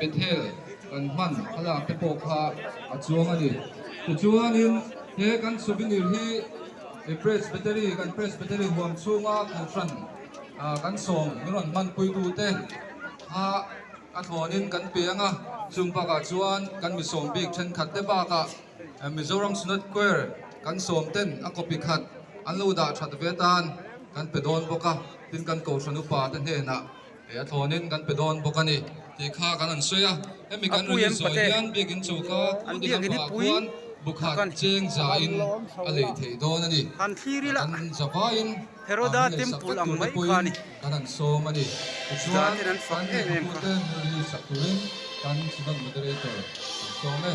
Bethel kan hman a lak te pawh kha a chuang a ni. Tichuanin he kan souvenir hi Presbytery, kan Presbytery huam chhunga Kawlhran kan sawm min rawn hman puitu te kha a thlawnin kan pe ang a. Chung bakah chuan kan misawm bik thenkhat te bakah Mizoram Synod Choir kan sawm ten a copy khat an lo dah that ve tan kan pe dawn bawk a, tin kan Kohhran upa te hnenah. He a thlawnin kan pe dawn bawk a ni tih kha kan rawn sawi a. Hemi kan rawn insawi hian biakin chu kha pu Dinapua khuan bukhat cheng zain a lei theih dawn a ni. Kan za vaiin a han lei sak vek tur te pawhin kan rawn sawm a ni. Tichuan kan mipute hmuri sak turin kan Sivan Moderator kan sawm e.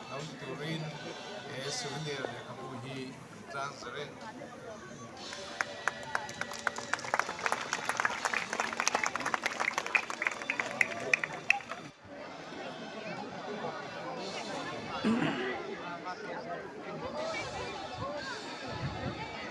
Lam turin he souvenir lehkhabu hi an tlang zet reng.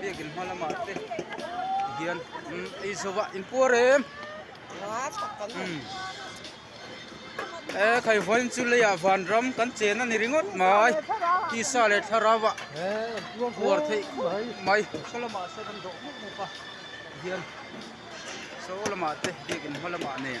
biakin hma lamah te hian eizawa in puar em e khai vain chu leiah van ram kan chen a ni ringawt mai tisa leh tharava puar theih mai khaw lamah sawn an dawh mup mup a hian saw lamah te biakin hma lamah nen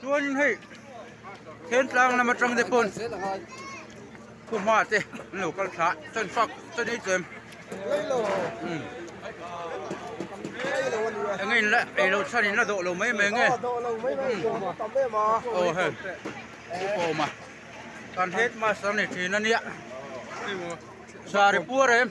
Chuanin hei Thlentlang lam atang te pawn khawhma te an lo kal thla a, chuan fak chuan ei chu em eng in la eilo chhan in la dawh lo mai mai nge aw he pu pawma kan headmaster a ni thin a nia saripua reh em.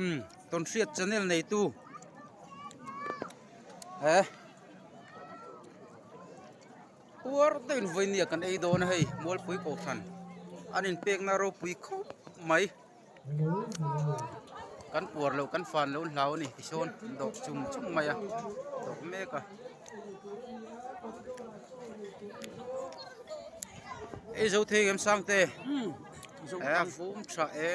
um tawn hriat channel nei tu he huar deuh in vawi nia kan ei dawn a hei mualpui kohhran an in pek na ropui khawp mai kan puar loh kan fan loh hlau a ni tisawn an dawh chum chum mai a dawh mek a eizo thei em sang te he a fum tha e.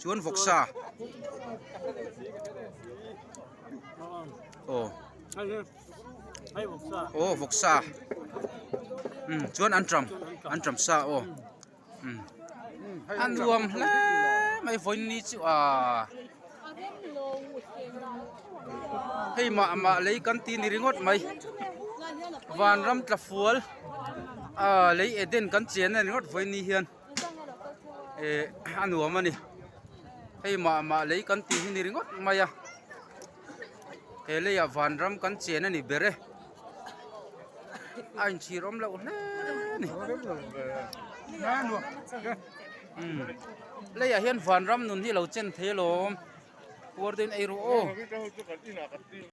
chuan vawk sa aw aw vawk sa um chuan an ṭam an ṭam sa aw um a nuam hle mai vawiin ni chu a hei mah mah lei kan ti ni ringawt mai vanram tla fual a lei eden kan chian a ni ngawt vawiin ni hian. a nuam a ni hei mah mah lei kan tih hi ni ringawt mai a he lei ah van ram kan chen a ni ber e a in chhir awm loh hle a ni lei ah hian van ram nun hi a lo chen thelawm puar daih in erawh aw.